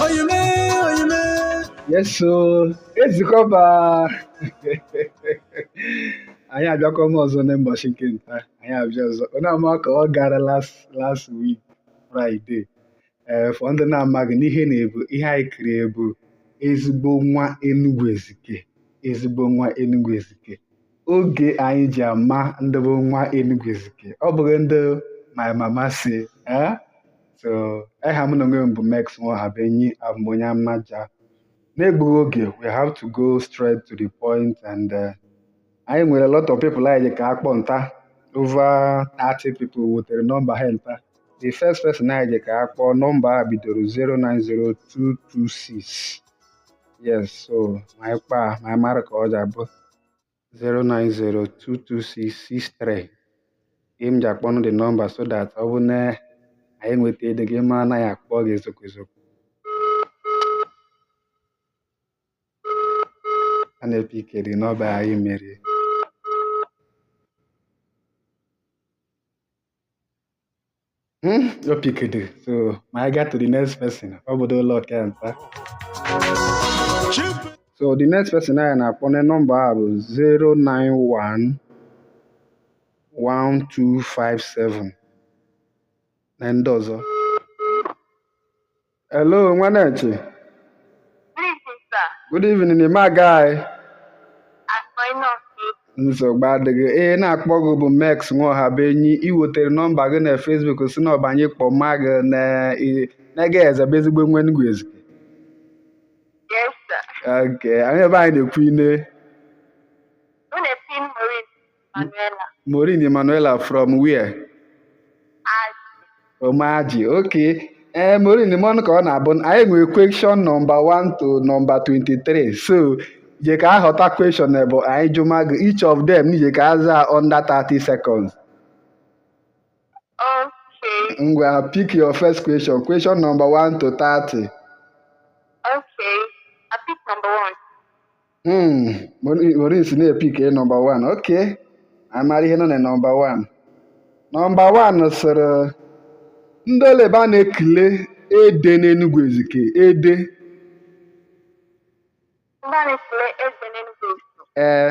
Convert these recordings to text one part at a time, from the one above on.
oyime oyime yes so Ezikeọba anyị abịakwa m ọzọ na mbọchị nke nta anyị abịa ọzọ onye ama ka ọ gara last last week Friday ee eh, for ndị na-amaghị n'ihe na-ebu ihe anyị kuru ị bụ ezigbo nwa Enugu Ezike ezigbo nwa Enugu Ezike oge anyị ji ama ndị bụ nwa Enugu Ezike ọ bụghị ndị my mama say eh? so eha m na onwe m bụ Mex Nwaohabuenyi abụ m onye Amaja n'egbughị oge we have to go straight to the point and eh, anyị nwere a lot of people anyị je ka akpọ nta over 30 people wetere nọmba ha nta the first person anyị je ka akpọ nọmba a bidoro 090226 yes so ma anyị kpọọ ma anyị mara ka ọ ga-abụ 090226663 ihe m ji akpọnụ the nọmba so that ọ bụ na anyị nweta ede gị ma na anyị akpọ gị ezokwu ezokwu a na-epikede nọmba anyị mere Hmm, your pick it. So I get to the next person. How about the lock and So the next person I na akpọ number bụ 091 1257 na ndị ọzọ Hello, Nwanechi. Good evening, sir. Good evening, my guy. Nsogbu adịghị. Ee, na-akpọ gị bụ Mex Nwaohabuenyi. Ị wetere nọmba gị na Facebook sị na ọ bụ anyị kpọma gị na na-ege eze bụ ezigbo nwa Enugu Ezike. Yes, sir. Okay, onye bụ anyị na-ekwu ine. Manuela. Maureen Emanuela from where? Omaji. Okay. Ee, eh, Maureen ị manụ ka ọ na-abụ anyị nwere question nọmba 1 to nọmba 23 so i je ka ahọta question bụ anyị jụma gị each of them i je ka aza under 30 seconds. Okay. Ngwa pick your first question. Question number 1 to 30. Okay. I pick number 1. Hmm, Maureen sị na-epick nọmba 1 okay amara ihe nọ na nọmba 1 nọmba 1 sịrị ndị olebe a na-ekele ede n'Enugwu Ezike ede ee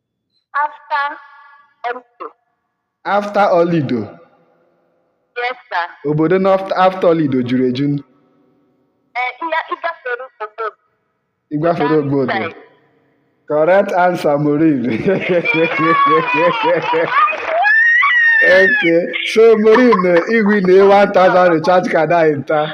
After Olido. After Olido. Yes, sir. Obodo na after Olido juru eju. Eh, ịgafere obodo. Ịgafere obodo. Correct answer, Maureen. okay, so Maureen, if we need 1,000 recharge card, I enter.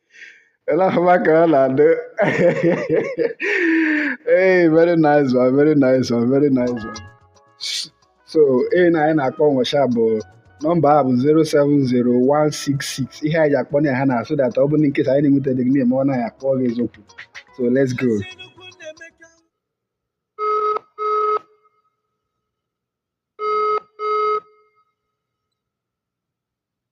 Ele ahụma ka ọ na-adị. Hey, very nice one, very nice one, very nice one. So, ee na anyị na-akpọ nwesha bụ nọmba a bụ 070-166. Ihe anyị ji akpọ ya ha na so that ọ bụrụ in case anyị na-enweta dị gị ma ọ naghị akpọ gị eziokwu. So, let's go.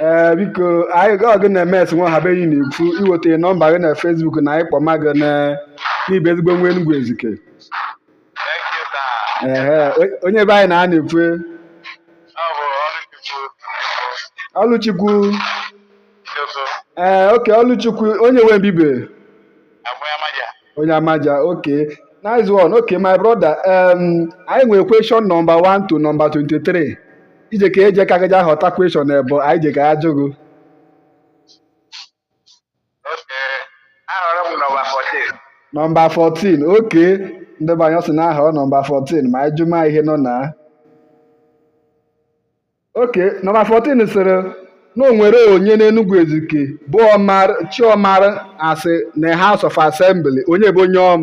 ee biko anyị gị ọgụ na emes nwa ha be anyị na-ekwu iweta nọmba gị na Facebook na anyị kpọma gị na- na ị bụ ezigbo nwa Enugwu Ezike Thank you, sir. ehe o- onye be anyị na a na-ekwu Ọ bụ Ọlụchukwu. Ọlụchukwu. ee okay Ọlụchukwu onye nwe mbibe Abụ m onye Amaja. onye Amaja okay nice one okay my brother um, anyị nwere question number 1 to number 23 i je ka eje ka gị ja họta question ebe anyị je ka ajụ gị nọmba 14 okay ndị be anyị ọ sị na ọ họrọ nọmba 14 ma anyị jụma ihe nọ na okay nọmba 14 sịrị na o nwere onye n'Enugu Ezike bụ Omar Chiomar asị na House of Assembly onye bụ onye ọm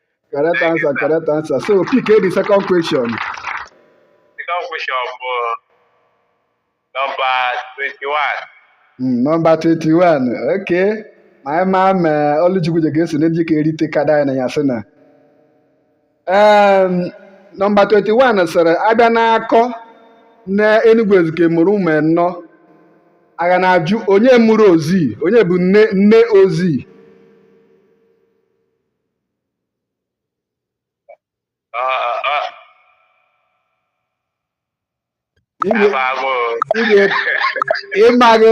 Correct answer, correct answer. So pick the second question. Second question uh, number 21. Mm, number 21. Okay. My man uh, Oluchukwu Jegesi na i je ka erite kada ya na ya sị na. Um, number 21 sịrị a bịa na-akọ na Enugu Ezike mụrụ ụmụ anọ a ga na-ajụ onye mụrụ Ozzi onye bụ nne nne Ozzi ịmaghị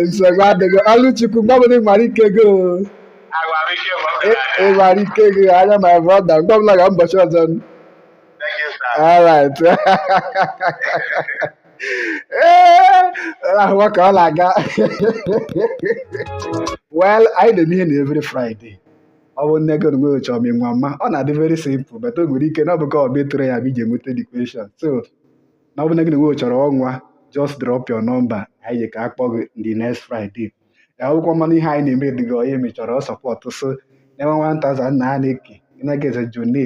nsogbu adịghị Ọlụchukwu mgbe ọbụla ị nwere ike gị ị nwere ike gị anwa my brother mgbe ọbụla ga mbọchị ọzọ all right ee ahụwa ka ọ na-aga well anyị na-eme ihe na every Friday ọ bụrụ na gị onwe chọrọ ịnwama ọ na-adị very simple but o nwere ike na ọ bụ ka ọ bụ ịtụrụ ya bụ iji enweta the question so na ọ bụrụ na gị onwe chọrọ ịnwa just drop your number anyị je ka akpọ gị the next Friday ọ bụkwa manụ ihe anyị na-eme dị gị mma ị chọrọ ị sọpọtụ so na-enwe 1000 na a na-eke ịnaghị eze jone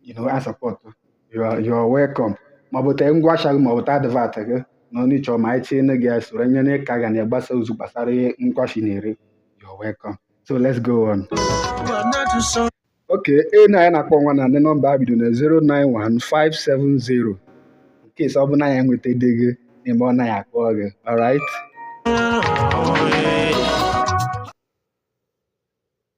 you know, a sọpọtụ you are you are welcome maọbụ tee ngwa ahịa gị maọbụ tee advert gị na onye chọrọ ma anyị tinye gị ya soro nye na ịka ga na-agbasa ozi gbasara ihe ngwa ahịa ị na-ere you are welcome so let's go on okay onye anyị na-akpọ nwa na ndị nọmba a bido na 091570 in case ọ bụ na anyị enwetadịghị n'ime ọ naghị akpọ gị alright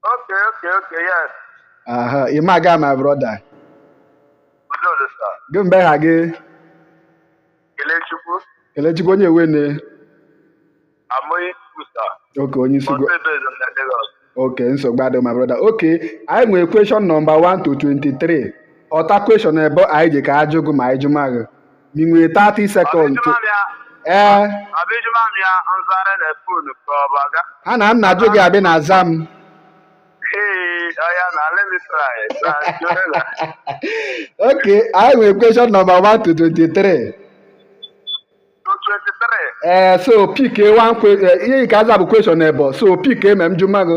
Okay, okay, okay, yes. Aha, ị ma aga my brother. Udo dị sa. Gịnị bụ eha gị? Kelechukwu. Kelechukwu onye wene? Amoyi Kusa. Okay, onye Isiugwu. Okay, nsogbu adịghị my brother. Okay, anyị nwere question number 1 to 23. Họta question ebo anyị ji ka ajụ gị ma anyị jụma gị. i nwere 30 seconds to ee eh. ha na nna jụ gị abị na aza m ok anyị nwere question number 1 to 23 ee eh, so pick eh, ihe ị ka aza bụ question ebo so pick ma m jụma gị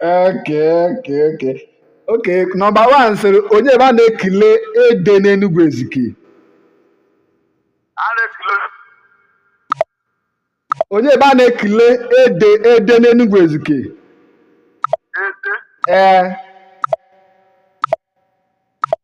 okay okay okay okay number 1 sịrị onye ebe a na-ekele ede n'enugwu ezike onye ebe a na-ekele ede ede n'enugwu ezike ee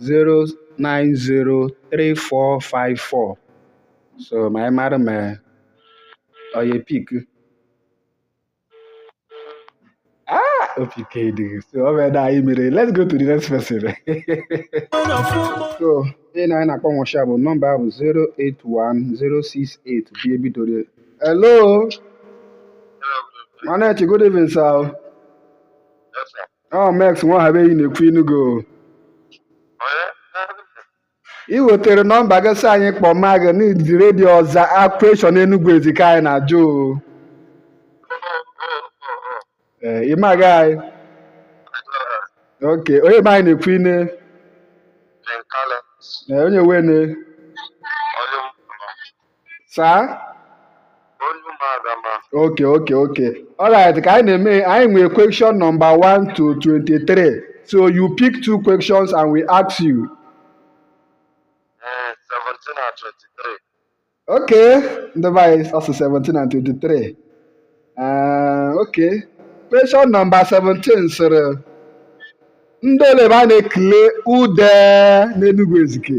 0903454 so ma anyị mara ma ọ ya pick ah ọ pickedịghị so ọ bụ ede anyị mere let's go to the next person so onye anyị na-akpọ nwụcha bụ nọmba bụ 081068 bi ebidoro hello Manechi, good evening, sir. ọ mex nwahabeghị na-ekwu ị nụgo ị wetere nọmba gị sị anyị kpọọ ma gị n'iji redio zaa question enugwu ezike anyị na-ajụ o. Ee, ị ma aga okay onye be anyị na-ekwu ine Ee, onye wene sir okay okay okay alright ka anyị na-eme anyị nwere question number 1 to 23 so you pick two questions and we ask you eh, okay ndị be anyị asụ 17 and 23 uh, okay question number 17 sịrị ndị ole ebe a na-ekele ude n'Enugu Ezike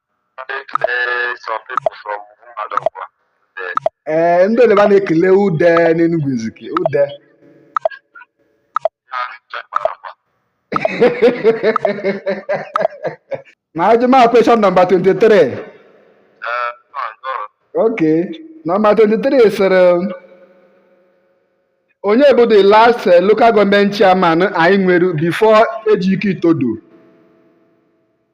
ee ndị ole ba na-ekele ude n'Enugu Ezike ude ma ajụma question number 23 ok number 23 sịrị onye bụ the last eh, local government chairman anyị nwere before Ejike Itodo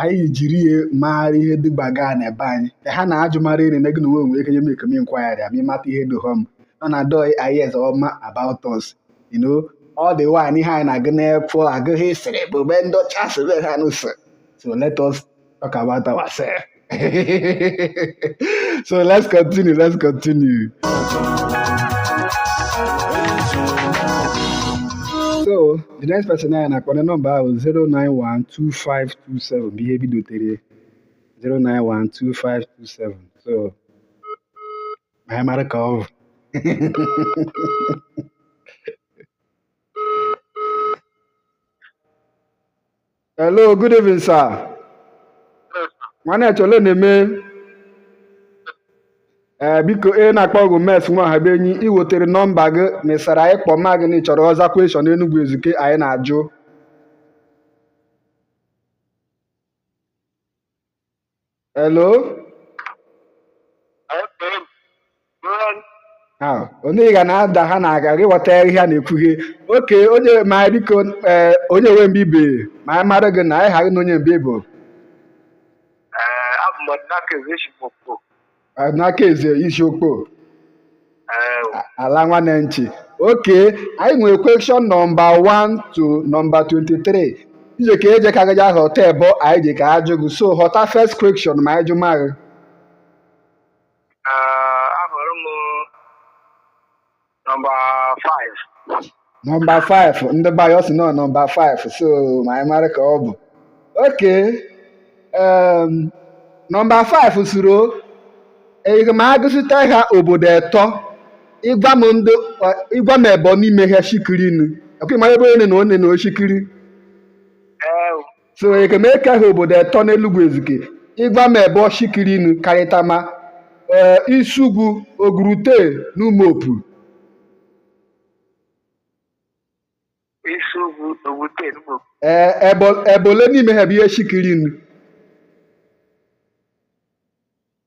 anyị jiri ihe maara ihe dịgbaga n'ebe anyị ha na-ajụ mara iri na gị na onwe nwere ike nye m ekeme inquiry ma ịmata ihe dị hom nọ na doi ayes ọma about us you know all the while ihe anyị na-agụ n'efọ agụghị sịrị bụ be ndị ọcha sịrị ha n'ụsọ so let us talk about ourselves so let's continue let's continue so the next person anyị na-akpọ onye nọmba ahụ 0912527 bụ ihe bidotere 0912527 so ma anyị mara ka ọ bụ Hello, good evening, sir. Nwanne ya chọrọ na-eme ee biko ị na-akpọ ọgụ Mex nwa ha be enyi ị wetere nọmba gị mesara anyị kpọọ ma gị na ị chọrọ ọza question Enugu Ezike anyị na-ajụ Hello? Ah, onye ị ga na-ada ha na-aga gị ghọta ihe a na-ekwu gị okay onye ma biko eh, onye nwe mgbe ibe ma anyị mara gị na anyị ha gị na onye mgbe ibo Eh, abụ m Ọdịnaka Eze eshi m Okpo. naka Eze ị si Okpo ala nwanne nchi okay anyị nwere question number 1 to number 23 ị jeka eji eka gị ja họta ebo anyị jeka ajụ gị so họta first question ma anyị jụ ma gị ahọrọ m Nọmba 5. Nọmba 5 ndị be anyị ọ sị nọ nọmba 5 so ma anyị mara ka ọ bụ. Okay em, nọmba 5 sịrị eje m agụsịta ha obodo etọ ịgwa m ndị ịgwa m ebo n'ime ha shikiri nụ. Okay ị mara ebe onye na onye na oshikiri. Ee, so ekemeke ha obodo etọ n'Enugu Ezike ịgwa m ebe ọshikirinu karịtama ee Isiugwu Ogurute na Umuopu Isiugwu Ogurute na Umuopu ebe ebe ole n'ime ha bụ ihe shikirinu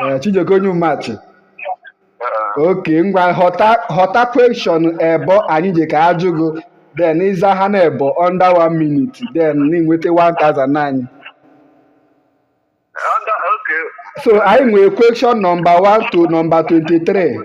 Eh, Chijioke onye Umachi eh. okay ngwa họta question ebo anyị ji ka ajụ gị then ị za ha na ebo under one minute then n'i nweta 1000 anyị so anyị nwere question nọmba 1 to nọmba 23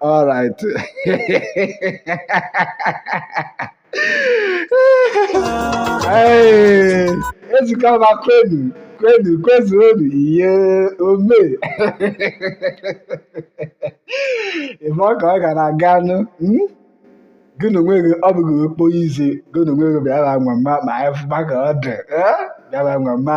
All right. hey, let's come back, Quenu. Quenu, Quenu, yeah, Ome. If I can, I can, hmm? gị na onwe gị ọ bụghị okporo izi gị na onwe gị bịara nwa mma ma anyị fụba ka ọ dị bịara nwa mma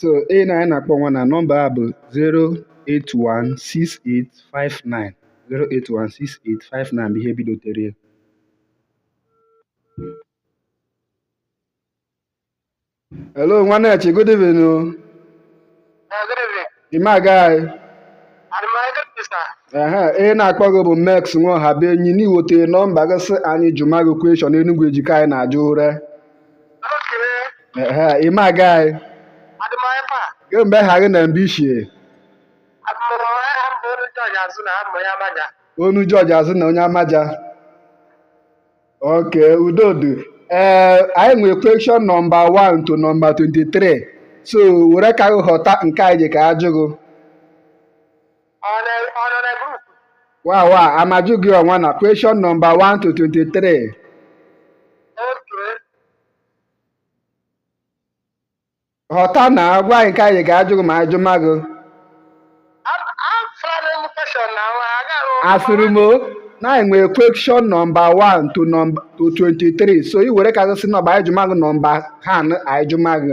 so ị na anyị na-akpọ nwa na nọmba a bụ 0816859 0816859 bụ ihe bidotere ya hello Nwanchi good evening o i me aga anyị ehe onye na-akpọ gị bụ Mex nwa Ọhabụenyi n'iweta nọmba gị sị anyị jụma gị question Enugwu Ezike anyị na-ajụ ụre i me aga anyị gịnị bụ eha gị na mbe i shi e Onu George azụ na onye Amaja okay udo dụ ee eh, anyị nwere question nọmba 1 to nọmba 23 so were ka gị họta nke anyị ji ka ajụ gị wa wa a ma jụ gị ọnwa na question number 1 to 23 họta na agwa anyị nke anyị ga-ajụ gị ma anyị jụma gị asịrị m na anyị nwere question number 1 to number 23 so i were ka gị sị nọmba anyị jụma gị nọmba ha anyị jụma gị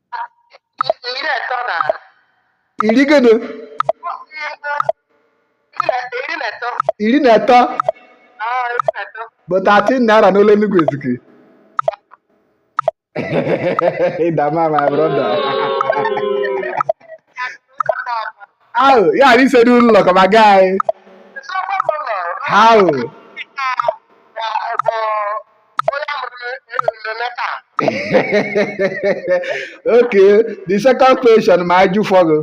iri gịnị iri na atọ bụ 13 naira n'olu Enugu Ezike ịdama my brother ahụ ya na ise n'ụlọ ụlọ ka ma gaa anyị ahụ okay the second question ma ajụ fọ gị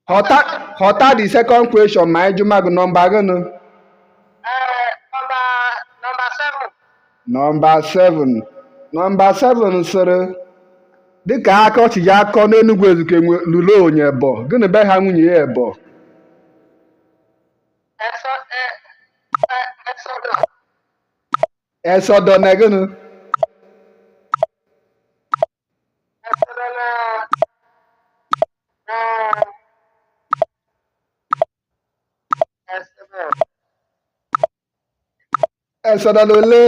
họta họta the second question ma anyị jụma gị nọmba gịnị nọmba 7 nọmba 7 sịrị dịka aka ọchị ya akọ n'Enugwu Ezike lụrụ nwunye ebo gịnị bụ eha nwunye ya ebo Esodo na gịnị Esodo na ole?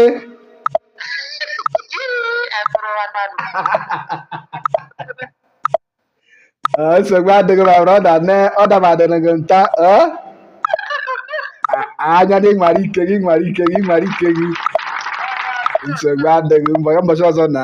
Ah, nsogbu adịghị my brother ne ọ dabadịrị gị nta ah? Ah, anya na ị nwara ike gị nwara ike gị nwara ike gị nsogbu adịghị mbọchị ọzọ na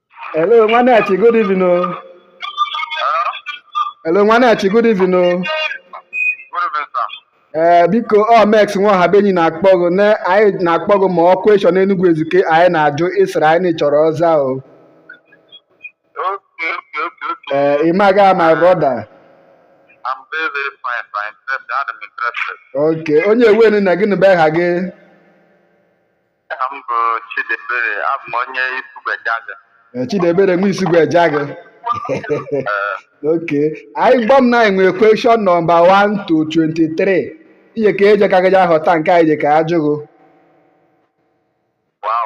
Hello, nwanne Achi, good evening. o. Hello, nwanne Achi, good evening. o. Good evening, sir. Ee, biko ọ Mex nwa ọha be enyi na-akpọ gị na anyị na-akpọ gị ma ọ kweshọn Enugu Ezike anyị na-ajụ ị sịrị anyị na ị chọrọ ọza o. Okay, okay, okay, okay. Ee, ị maga my brother. I'm very, very fine, sir. Interested. I'm interested. Okay, onye ewenu na gịnị bụ aha gị? Aha m bụ Chidebere, abụ m onye Isugwu Ejaga. Eh, Chidebere nwa Isugwu Ejaga. Okay. Anyị gwa m na anyị nwere question nọmba 1 to 23. Ihe ka eje ka gị ja ahọta nke anyị je ka ajụ gị. Wow.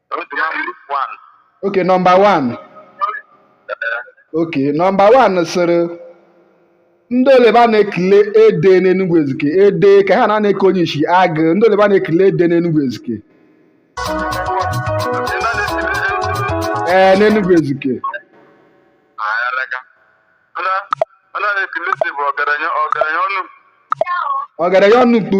okay nọmba 1 okay nọmba 1 sịrị ndị ole ba a na-ekele ede n'enugwu ezike ede ka ha na-eke onye ishi agụ ndị ole ba a na-ekele ede n'enugwu ezike ee n'enugwu ezike ọgaranya ọnụ mkpu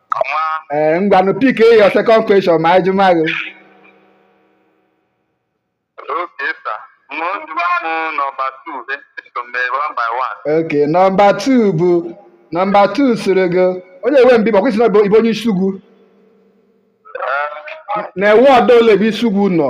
ee eh, ngwanụ pick your second question ma anyị jụma gị ok nọmba 2 bụ nọmba 2 sịrị gị onye ewe mbi ma kwa ị sị na ị bụ onye Isugwu na-ewe ọdọ ole bụ Isugwu nọ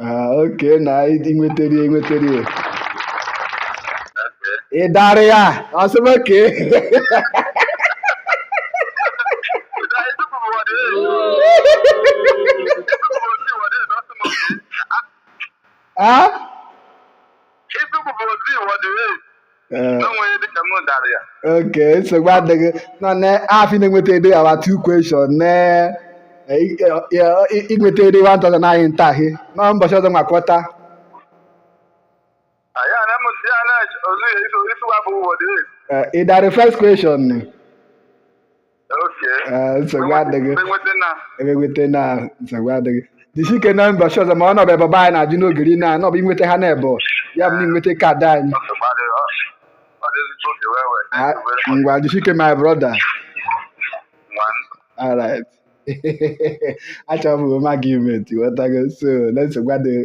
Ah, okay na ị nwetara ya ị nwetara ya ị dara ya ọsịba ke Ah? Eh. okay nsogbu adịghị nọ n'afọ na-enweta ede our two question na ị nweta ede 1000 anyị ntaghị na mbọchị ọzọ makọta ị dara first question nsogbu adịghị enweta na nsogbu adịghị jisi ike na mbọchị ọzọ ma ọ nọbụ ebe anyị na-ajụ n'ogiri na anọbụ inweta ha n'ebe ya bụ na i nweta kaadị anyị ngwa jisi ike my brother all right achọrọ m gị ime nti ghọtago so na nsogbu adịghị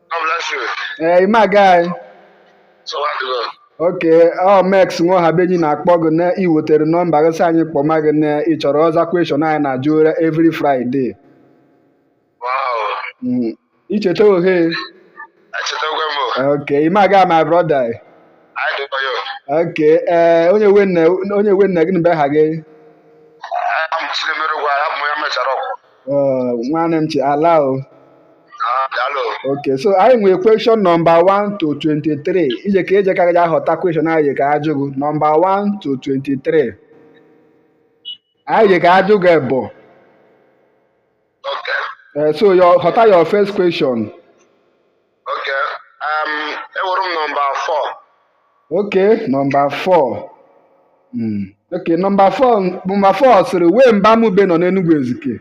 ee i me aga anyị okay ọ Mex nwa Ọhabenyi na-akpọ gị na i wetere nọmba gị sị anyị kpọma gị na ị chọrọ ịza question anyị na-ajụ ọra every Friday icheta ohe okay i me aga my brother okay ee onye we nna gị na be ha gị Uh, nwanne m chi ala o Ah, daalụ. ok so anyị nwere question nọmba 1 to 23 i jeko i jeko ahọta question anyị jeko ajụ gị nọmba 1 to 23 anyị jeko ajụ gị bụ Okay. eh, so họta your first question Okay, um, ewere m nọmba 4. Okay, nọmba 4. Mm. Okay, nọmba 4 nọmba 4 sịrị wee mbe Amụbe nọ n'Enugu Ezike.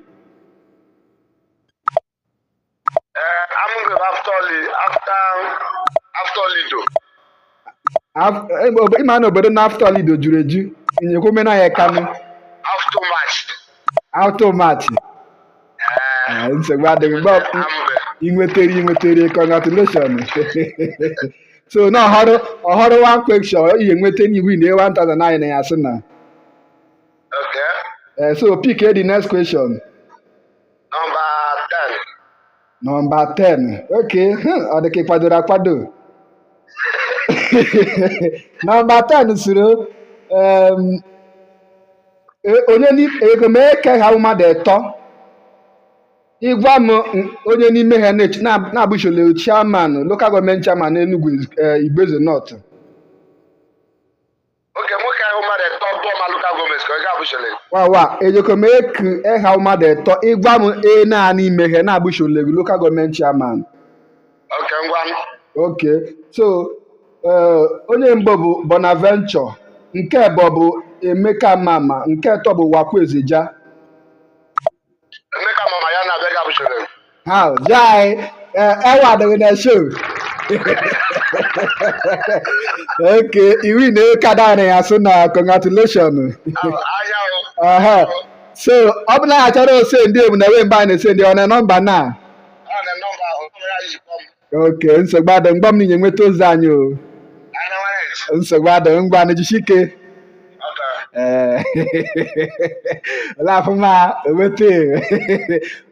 Uh, Amụbe after, after, after Olido. ị ma na obodo nọ after Olido juru eju nyekwa omena ya kanụ after Ụmachi ah, nsogbu adịghị mgbe i nwetere i nwetere congratulation so na ọhụrụ ọhụrụ one question i nweta na i win 1000 naịra sị na eh, so pick the next question Nọmba 10. Okay, hmm, ọ dị ka ị kwadoro akwado. Nọmba 10 sịrị em, e- onye ni- ejeko m eku eha mmadụ etọ ị gwa m n- onye n'ime ha na-eche- na- na-abụchole chairman local government chairman Enugu eh, Igbo-Eze North okay nwoke ahụ mmadụ etọ bụọ ma local government ka ọ ga-abụ shole wawa ejeko m eku eha mmadụ etọ ị gwa m e naa n'ime ha na-abụ shole gị local government chairman okay ngwa okay so eh, onye mbụ bụ Bonaventure nke ebọ bụ Emeka Mama nke etọ bụ Ụwakwe Ezeja Emeka Mama ya na abịaghị abụchara m. Ha jai ewa adịghị na show. Okay, i winna kaadị anyị so na congratulations. Ahịa o. Aha. So, ọ bụ na anyị chọrọ isendi ebu na wee mbe a na-esendi ọ na nọmba na. Ọ na nọmba ahụ, ọ ya jikwa m. okay nsogbu adịghị mgbe m ninye nweta ozi anyị o nsogbu adịghị ngwa nụ jisike ee laafụ ma enweta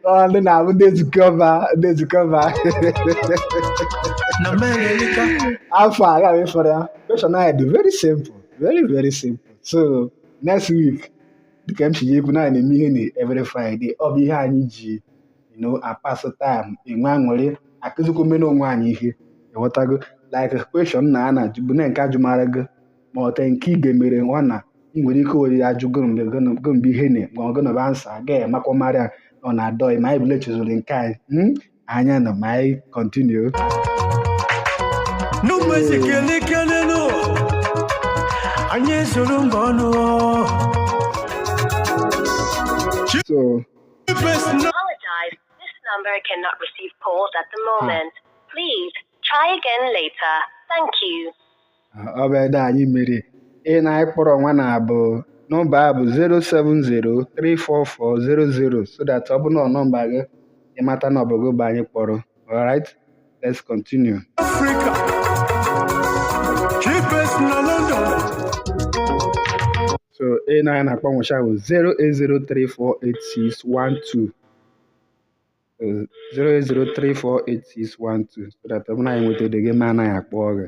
ọ ndị na-abụ ndị nzukọ ọba ndị nzukọ ọba na mmeri elika afọ a gaghị fọrọ ya question anyị dị very simple very very simple so next week dịka m si ya ekwu na anyị na-eme ihe na every friday ọ bụ ihe anyị ji na-apass time enwe aṅụrị akụzikwa omena onwe anyị ihe ị ghọtago like question na a na-ajụ bụ na nke a jụmara gị ma ọta nke ị ga-emere nwa na ị nwere ike were ya ajụ gị mgbe ihe na ma ọ gọnọba answer agaghị amakwa marịa nọ na adọghị ma anyị bụla chezụrụ nke anyị hmm? anya na ma anyị continue n'ụbọchị kele kele nụ anyị esoro mba ọnụ so ọ bụ ede anyị mere onye anyị kpọrọ nwa na bụ nọmba a bụ 070344000 so that ọ bụ na nọmba gị ị mata na ọ bụ gị bụ anyị kpọrọ All right, let's continue. So onye anyị na-akpọ nwụcha bụ 080348612 080348612 so that ọ bụ na anyị nwetadeghị ma anaghị akpọ gị.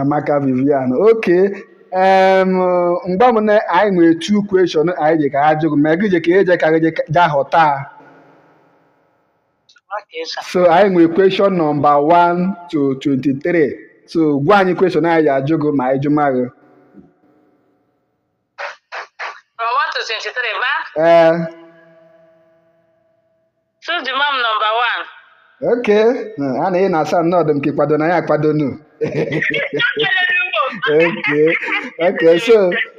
Amaka Vivian okay mgbe m na anyị nwere two question anyị ji ka ha jụrụ ma gị je ka eje ka gị je họta so anyị nwere question number 1 to 23 so gwa anyị question anyị ji ajụ gị ma anyị jụma gị From 1 to 23, ma? Ee. Choose the mom number one. Ok. Hmm, A na ị na-asa na ọ dị m ka ị kwado na ya akwado nu. ok. Ok. So,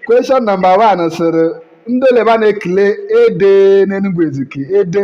question number one sịrị ndị ole ba a na-ekele ede n'Enugwu Ezike. Ede.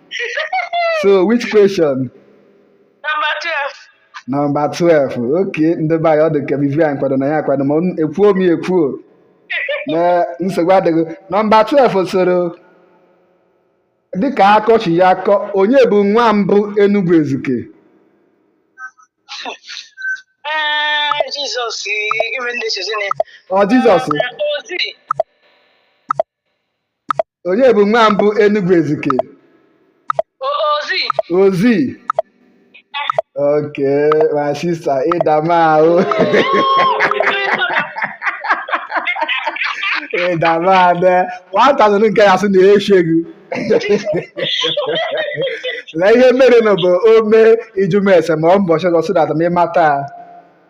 so which question number 12 number 12 okay ndị be anyị ọ dị ka vivian kwado na ya akwado ma ekwuo m ya ekwuo na nsogbu adịghị nọmba 12 sịrị dịka akọchi ya akọ onye bụ nwa mbụ Enugu Ezike Jizọs ọ Jizọs onye bụ nwa mbụ Enugu Ezike Ozzi. Ozzi okay my sister ị dama o ị dama 1000 nke ya sị na ya echeghị na ihe mere na bụ ome ijumese ma ọ mbọchị ọzọ si na atamịmata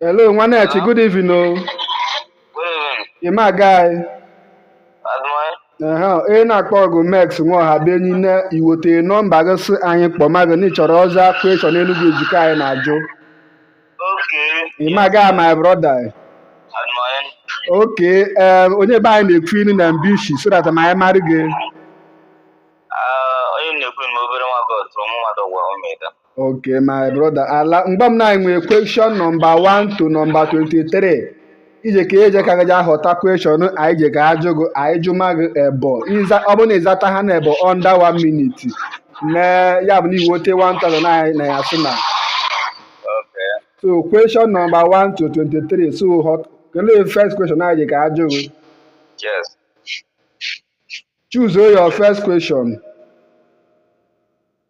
Hello, Nwanechi, good evening o. Ịma aga anyị. Ehe, ị na-akpọ gụ Mex Nwaoha bụ enyi na iwote nọmba gị sị anyị kpọma gị na ị chọrọ ịza question Enugu Ezike anyị na-ajụ. Ịma aga my brother. Okay, ee, onye be anyị na-ekwu inu na mbe ishi so that ma anyị marị gị. Okay, my brother. Ala mgba m na anyị nwere question number 1 to number 23. Ije ka eje ka gaja họta question anyị je ka ajụ gị anyị jụma gị ebo. Ịza ọ bụrụ na ịzata ha na ebo under 1 minute. Na ya bụ na iwote 1000 na anyị na ya sị na. Okay. So question number 1 to 23. So họta kelee first question anyị je ka ajụ gị. Yes. Choose your first question.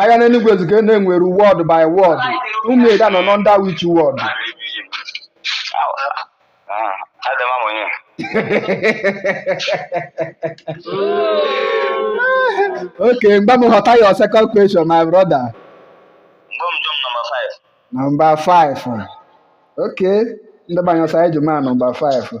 ahịa n'Enugu Ezike na-enwere ward by ward Umuida nọ na under which ward adama m onye okay mgba m họta your second question my brother mgbe m jụm nọmba 5 nọmba 5 okay ndị be anyị ọ sị anyị jụma nọmba 5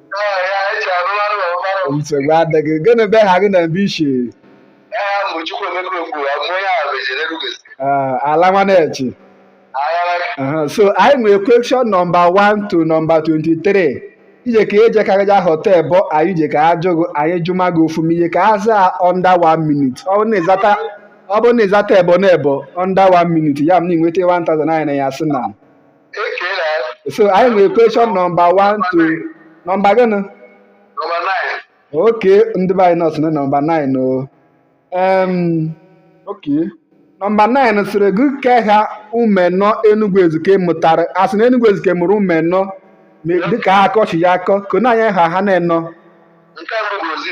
nsogbu adịghị gịnị bụ eha gị na mbe ishi ala nwanechi so anyị nwere question nọmba 1 to nọmba 23 ije ka eje ka gaja họta ebo anyị je ka ajụ gị anyị jụma gị ofu ị je ka aza under one minute ọ bụrụ na ịzata ọ bụrụ na ịzata ebo na ebo under one minute ya m na inweta 1000 anyị na ya sị na so anyị nwere question nọmba 1 to nọmba gịnị okay ndị be anyị na ọ sụ na nọmba 9 o okay nọmba 9 sịrị gị kee eha ụmụ enọ Enugu Ezike mụtara a sị na Enugu Ezike mụrụ ụmụ enọ dịka ha akọchi ya akọ kọnye anyị eha ha na enọ nke mbụ bụ Ozzi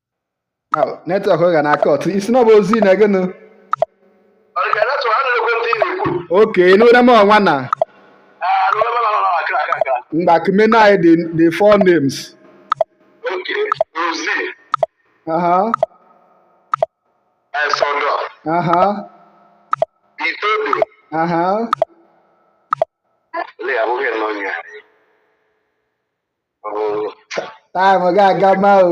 netwọk gị na-akọt ị sị na ọ bụ ozi na gịnụ oke n'ụra m nwanna m gbakọmena anyị the four names aha aha aha time ga-aga ma o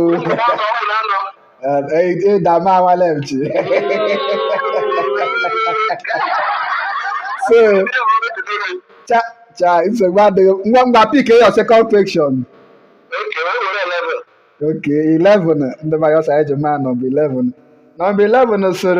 ịda m anwale m chi so cha cha nsogbu adịghị ngwa ngwa pick your second question ok 11 ndị mayọsa eji ma nọmba 11 nọmba 11 sir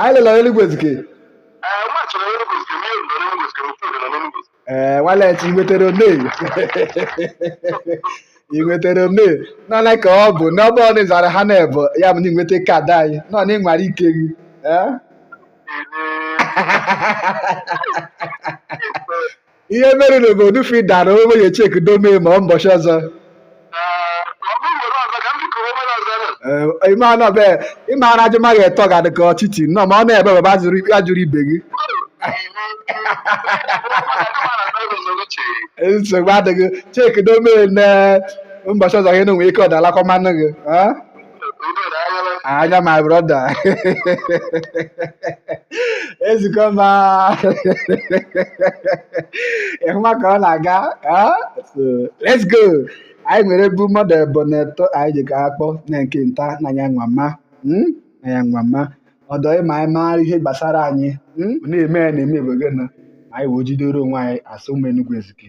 anyị lele onye Enugu Ezike ee Nwanechi ị nwetara one ị nwetara one nọ na ka ọ bụ na ọ bụ ị zara ha n'ebo ya bụ na ị nweta kaadị anyị nọ na ị nwara ike gị ihe mere bụ odufi dara onwe ya chek dome ma ọ mbọchị ọzọ ime anọ be ime ara ajụ ma gị etọ ga dị ka ọchịchị nnọọ ma ọ na-ebe baba jụrụ ya jụrụ ibe gị nsogbu adịghị chek dome na mbọchị ọzọ gị na nwere ike ọ dalakwa mmanụ gị Anya my brother. Ezukọ ma. Ị hụma ka ọ na-aga. Let's go. Anyị nwere bu mmadụ ebo na etọ anyị ji ka akpọ na nke nta na ya nwa mma. Hmm? Na ya nwa mma. Ọdọ ịma anyị maara ihe gbasara anyị. Hmm? Na-eme na-eme ebe gị na anyị wee jidere onwe anyị as ụmụ Enugu Ezike.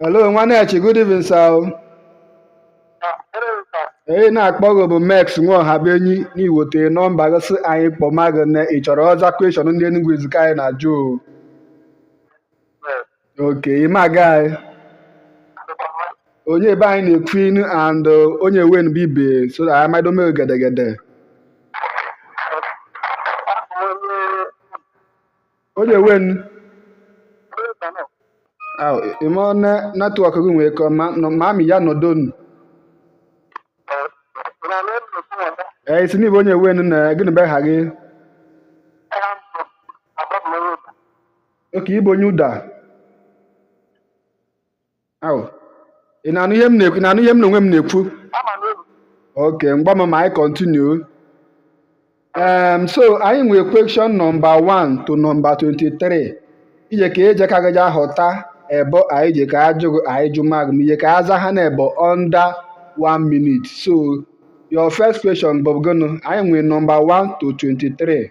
Hello, Nwanechi, good evening, sir. Ee, na-akpọ gị bụ Mex Nwaohabenyi n'iwote nọmba gị sị anyị kpọma gị na ị chọrọ ọza kweshọn ndị Enugu Ezike anyị na-ajụ. o. Oke, ịma gị anyị. Onye be anyị na-ekwu inu and uh, onye wen bụ ibe so that anyị mado mee gedegede. Onye wen? Aw, ime ọnụ netwọk gị nwee ka ma ma mi ya nọdụ nụ. Ee, ị sị n'ị bụ onye wen na gịnị bụ aha gị? Oke ị bụ onye Uda. Au, ị na-anụ ihe m na-ekwu ị na-anụ ihe m na onwe m na-ekwu Ama m elu. okay mgba ma anyị continue um, so anyị nwere question nọmba 1 to nọmba 23 ije ka eje ka gaja họta ebo anyị je ka ajụ gị anyị jụma gị ije ka aza ha na ebo under 1 minute so your first question bụ gịnị anyị nwere nọmba 1 to 23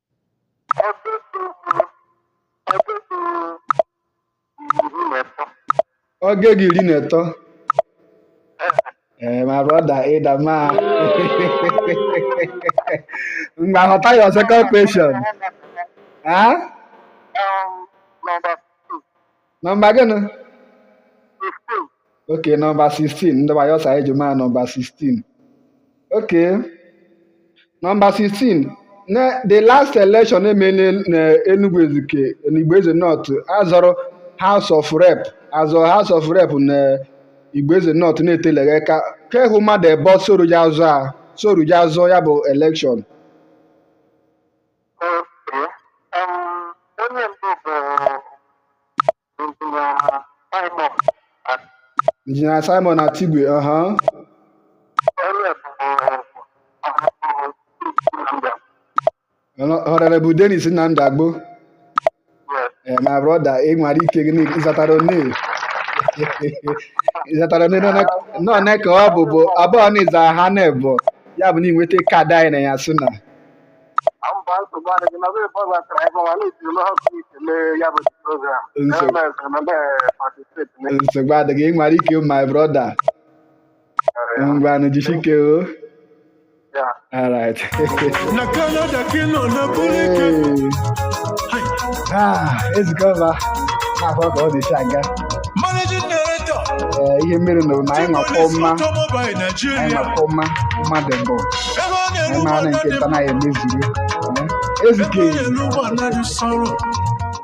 oge gị iri na ịtọ ee my brother ịdama mgba họta your second question ha nọmba gịnị okay nọmba 16 ndị wayo sa eji maa nọmba 16 okay nọmba 16 na the last election emere na Enugu Ezike na Igbo Eze North azọrọ House of Rep azọ House of Rep na Igbo Eze North na-eteleghị aka kehụ mmadụ ebo soruja azọ a soruja azọ ya bụ election Injinia Simon Atigwe, aha. Honorable Dennis Nnamdi Agbo. Eh, my brother, ị nwara ike ịzatara one ịzatara one nọ na ka ọ bụ bụ abụọ na ịzara ha na ebo ya bụ na ịnweta kaadị anyị na ya sị na nsogbu adịghị ị nwara ike my brother ngwanụ jisike o alright na Canada ka nọ na Burike ah ezikọba na-akwa ka ọ dị si aga eh, ihe mere na na anyị nwakọ mma anyị nwakọ mma mmadụ mbụ anyị maara nke nta na ya emezuru ezike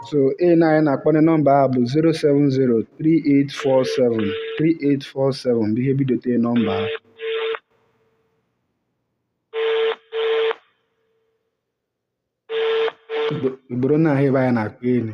so a na anyị na-akpọ nọmba a bụ 070384738 47 bụ ihe bidote nọmba ha Igbo- igboro na ahụ ebe anyị na-akpọ elu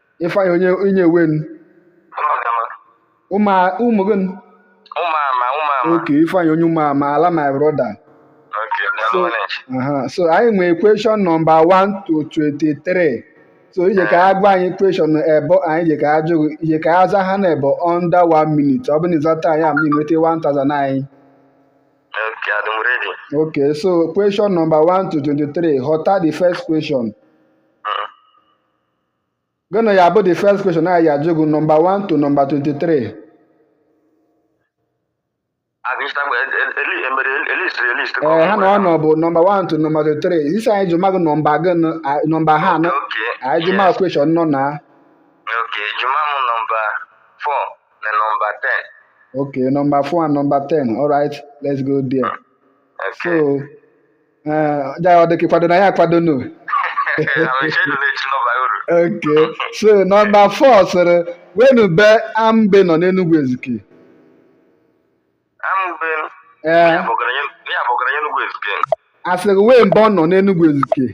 Ifeanyị onye onye wen Ụmụagama. ụmụ ụmụ gị Ụmụama, ụmụama. okay Ifeanyị onye ụmụ ama ala my brother Okay, daalụ nwanne. aha so anyị nwere question nọmba 1 to 23 so ije ka a gwa anyị question ebo anyị je ka a jụ gị ije ka a za ha na ebo under 1 minute ọ bụ na ịzata anyị ama inweta 1000 anyị Okay, adị m ready. okay so question nọmba 1 to 23 họta the first question gịnị ya bụ the first question anyị ga-ajụ gị nọmba 1 to nọmba 23 ee ha na ọ nọ bụ nọmba 1 to nọmba 23 ị sị anyị jụma gị nọmba gị nọmba ha anọ anyị jụma question nọ na Okay, jụma mụ number four na number ten. Okay, number four and number ten. All right, let's go there. Okay. So ee ọ dịkị kwado na ya akwado nu ok so nọmba fọ sịrị wenube Amube nọ n'enugwu ezike ee asịrị wee mbe ọ nọ n'enugwu ezike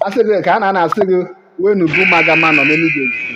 asịrị ka a na-asị gị wenube Ụmụagama nọ n'enugwu ezike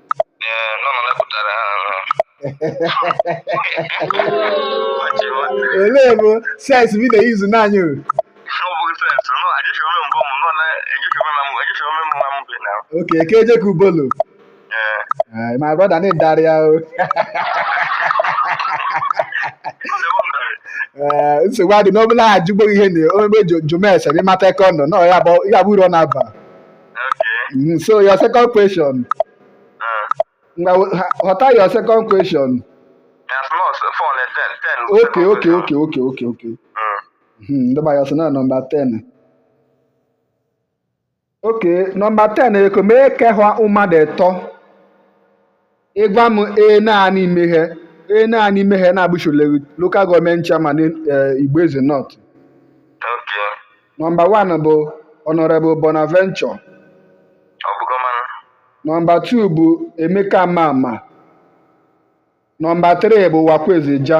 Ele bụ sens bi na-eyuzu naanị o. Ok, ka ejekọ Ubolo. Eh, my brother n'ị darị ya o. Eh, nsogbu adị n'ọbụla ajụgbo ihe na omebe jomese ịmata eke ọ nọ na ya bụ uru ọ na-aba. Mm, so your second question. Họta your second question? Okay, okay, okay, okay, okay, okay. Ndị ma ya so na nọmba 10. Okay, nọmba 10 eko mee ke hwa ụmadụ etọ Ịgwa m ee naanị imeghe ee naanị imeghe na-abụchile local government chairman eh, Igboeze North. Okay. Nọmba wan bụ Honorable Bonaventure. Ọ bụgo mmanụ. Nọmba tuu bụ Emeka Mamah. Nọmba tiri bụ Uwakwe Ezeja.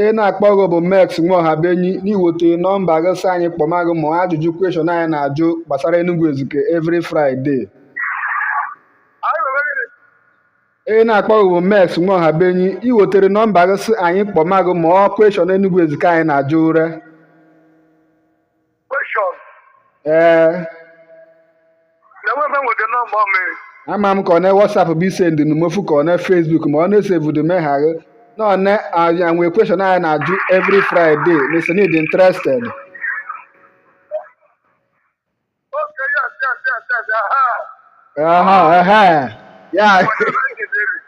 ị na-akpọ gị bụ Max Nwaohabenyi n'iweta nọmba gị sị anyị kpọma gị ma ajụjụ kweshọn anyị na-ajụ gbasara Enugu Ezike every Friday ị na-akpọ gị bụ Max Nwaohabenyi iwetere nọmba gị sị anyị kpọma gị ma ọ kweshọn Enugu Ezike anyị na-ajụ ụre Question. ee Na nwa nwe the number of me. ama m ka ọ na whatsapp bụ i sendi numofu ka ọ na facebook ma ọ na-esevudu meghaghe na ọ na anyị nwee kweshọn anyị na-ajụ every friday sị n'ị dị interested Uh-huh, uh-huh. Yeah.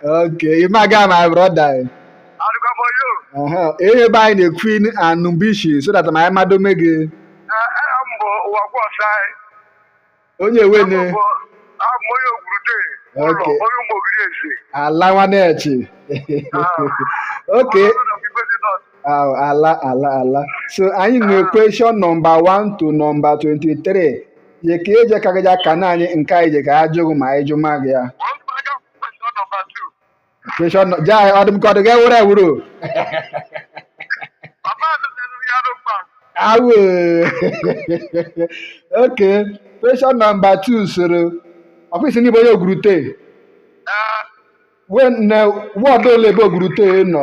okay, you my guy, my brother. Uh-huh. Ihe be anyị na-ekwu in Anumbishi so that ma anyị mado me gị. Onye ewe ne. Okay. Ala nwanechi. Okay. Oh, ala ala ala. So anyị nwere question number 1 to number 23. ye ka eje ka gaja ka na anyị nke anyị je ka ajụghị ma anyị jụ ma gị ya question no- ja ọ dị m ka ọ dị gị were wuru awo okay question nọmba 2 soro ọfịs ndị bụ onye Ogurute ward ole be Ogurute nọ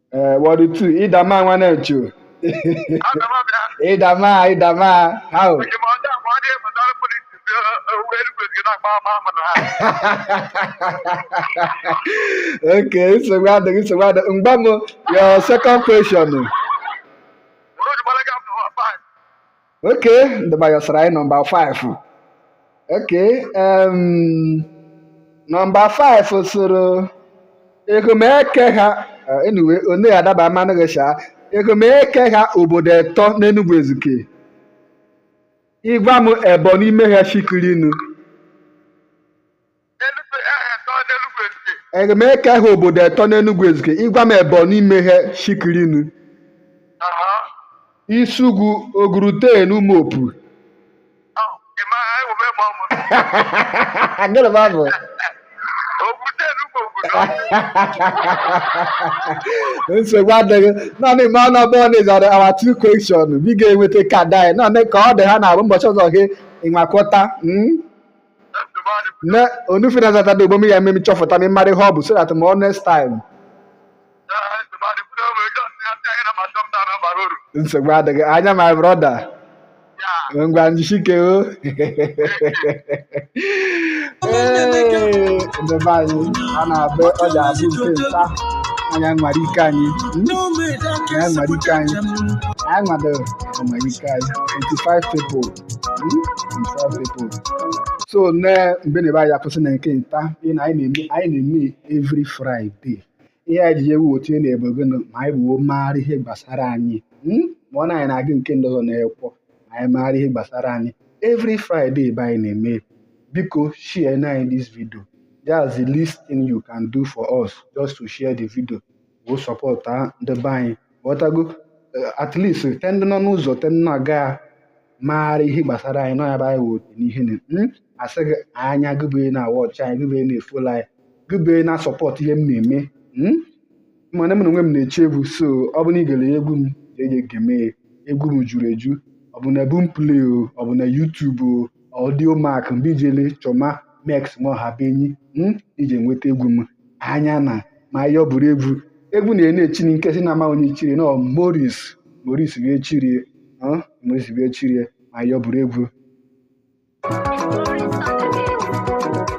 Eh, ward two ị dama nwanechi ị dama ị dama how okay nsogbu adịghị nsogbu adịghị mgba m your second question okay ndị be anyị ọ sara anyị nọmba 5 okay em, nọmba 5 soro ege m eke ha eh, anyway onye adaba mmanụ gị sha ege m eke ha obodo etọ n'Enugwu Ezike ị gwa m ebọ n'ime ha shikurinu Ege m eke ha obodo etọ n'Enugwu Ezike. Ị gwa m ebọ n'ime ha shikirinu, Isugwu, Ogurute na Umuopu. Gịnị bụ abụ? nsogbu adịghị naanị ma ọ na-abụ na ị zadị our two question be ị ga-enweta card anyị naanị ka ọ dị ha na-abụ ụbọchị ọzọ gị ịnwakọta mm? ne onu fi na zata do bomi ya mee ma ị chọfụta ma ị mara ihe ọ bụ so that mo next time nsogbu adịghị anya my brother ngwa njisike o Ee, ndị be anyị a na-abụ ọ ga-abụ nke nta anyị anwara ike anyị Hmm? anyị anwara ike anyị anyị nwado nwara ike anyị 25 people so ne mgbe na be anyị akwụsị na nke nta ihe na anyị na-eme anyị na-eme every Friday ihe anyị ji ewote ne bụ gọnụ ma anyị bụ maara ihe gbasara anyị hmm? ma ọ na anyị na-agụ nke ndị ọzọ n'ekwọ ma anyị maara ihe gbasara anyị every Friday be anyị na-eme biko share na anyị this video that's the least thing you can do for us just to share the video wee support ndị be anyị ghọtago Eh, at least te ndị nọ n'ụzọ te ndị na-aga maara ihe gbasara anyị nọ ya bụ anyị wụ otu n'ihe na Mm, asị gị anya gịbee na-awatch anyị gịbee na-efollow anyị gịbee na-asupport ihe m na-eme Mm, mana m na onwe m na-echi egwu so ọ bụ na ị gere egwu m ga-ege egwu m juru eju ọ bụ na Boomplay o ọ bụ na YouTube o Audiomack mbe i jele chọma Mex nwa Ọhabuenyi i je nweta egwu m anya na ma ya bụrụ egwu egwu na-ene echiri nke si na ama onye chiri na Morris Morris wee chirie ọ, Morris wee chirie ma ya bụrụ egwu